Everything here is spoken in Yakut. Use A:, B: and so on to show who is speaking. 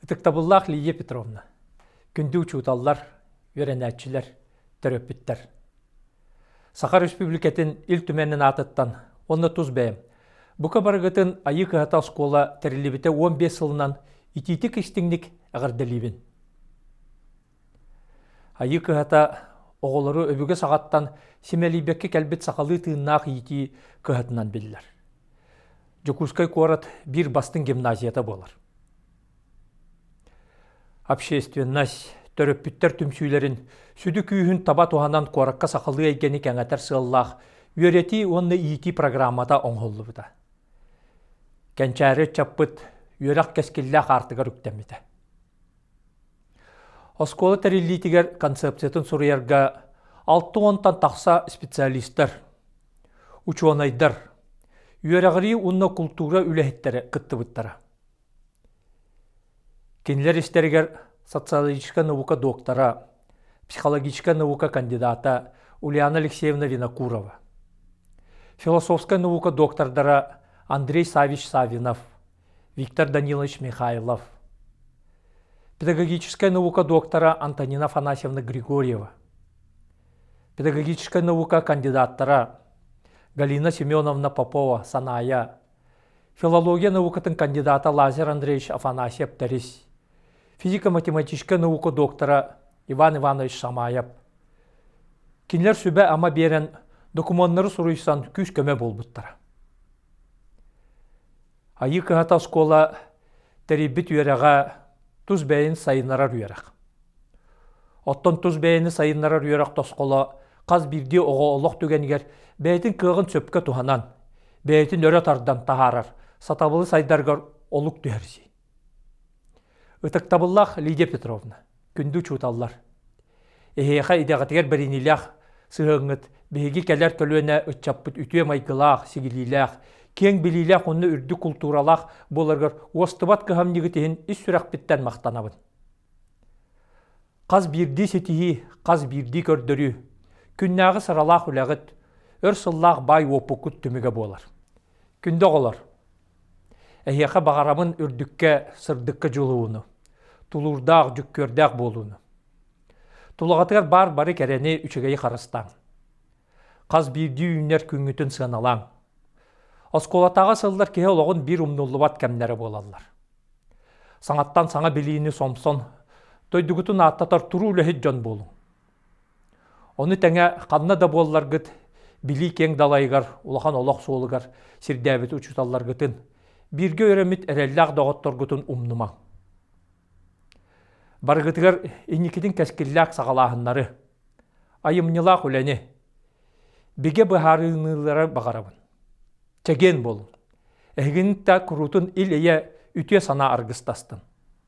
A: Ытыктабыллаах Лидия Петровна, күндү учууталлар, үөрэнээччилэр, төрөппүттэр! Саха Республикатын Ил Түмэнин аатыттан уонна тус бэйэм бука барыгытын Айыы Кыһата оскуола тэриллибитэ уон биэс сылынан итиитик-истиҥник эҕэрдэлиибин! Айыы кыһата оҕолору өбүгэ саҕаттан симэлийбэккэ кэлбит сахалыы тыыннаах иитии кыһатынан биллэр. Дьокуускай куорат биир бастыҥ гимназията буолар. Общественность, төрөппүттэр түмсүүлэрин сүдү күүһүн таба туһанан куоракка сахалыы эйгэни кэҥэтэр сыаллаах үөрэтии уонна иитии программата оҥоһуллубута. Кэнчээри ыччаппыт үөрэх кэскиллээх аартыгар үктэммитэ. Оскуола тэриллиитигэр концепциятын суруйарга алта уонтан тахса специалистар, учуонайдар, үөрэҕирии уонна култуура үлэһиттэрэ кыттыбыттара. Кинилэр истэригэр социологическай наука доктора, психологическай наука кандидата Ульяна Алексеевна Винокурова, философскай наука доктордара Андрей Савич Савинов, Виктор Данилович Михайлов, педагогическая наука доктора Антонина Афанасьевна Григорьева, педагогическая наука кандидаттара Галина Семеновна Попова Саная, филология наукатын кандидата Лазер Андреевич Афанасьев Тэрис, физико-математическая наука доктора Иван Иванович Шамаев. Кинилэр сүбэ-ама биэрэн докумуоннары суруйсан күүс-көмө буолбуттара. Айыы кыһата оскуола тэрийбит үөрэҕэ тус бэйэни сайыннарар үөрэх. Оттон тус бэйэни сайыннарар үөрэх тосхоло хас биирдии оҕо олох түгэнигэр бэйэтин кыаҕын сөпкө туһанан, бэйэтин өрө тардан таһаарар, сатабылы сайдарыгар олук түһэрсии. Ытыктабыллаах Лидия Петровна, күндү учууталлар! Эһиэхэ идэҕитигэр бэриниилээх сыһыаҥҥыт, биһиги кэлэр көлүөнэ ыччаппыт үтүө майгылаах, сигилиилээх, киэҥ билиилээх уонна үрдүк култууралаах буоларыгар уостубат кыһамньыгыт иһин ис сүрэхпиттэн махтанабын. Хас биирдии ситиһии, хас биирдии көрдөрүү, күннээҕи сыралаах үлэҕит, өр сыллаах баай уопуккут түмүгэ буолар. Күндү оҕолор! Эһиэхэ баҕарабын үрдүккэ, сырдыкка дьулууну, тулуурдаах, дьүккүөрдээх буолууну. Тулаҕатыгар баар бары кэрэни, үчүгэйи харыстааҥ. Хас биирдии үүнэр күҥҥүтүн сыаналааҥ. Оскуолатааҕы сыллар киһи олоҕун биир умнуллубат кэмнэрэ буолаллар. Саҥаттан саҥа билиини сомсон, дойдугутун ааттатар туруу үлэһит дьон буолуҥ. Ону тэҥэ ханна да буолларгыт, билии киэҥ далайыгар, улахан олох суолугар сирдээбит учууталларгытын, бииргэ үөрэммит эрэллээх доҕотторгутун умнумаҥ. Барыгытыгар инникитин кэскиллээх саҕалааһыннары, айымньылаах үлэни, бигэ быһаарыныылары баҕарабын. Чэгиэн буолун! Эһигин да куруутун ил-эйэ, үтүө санаа аргыстастын!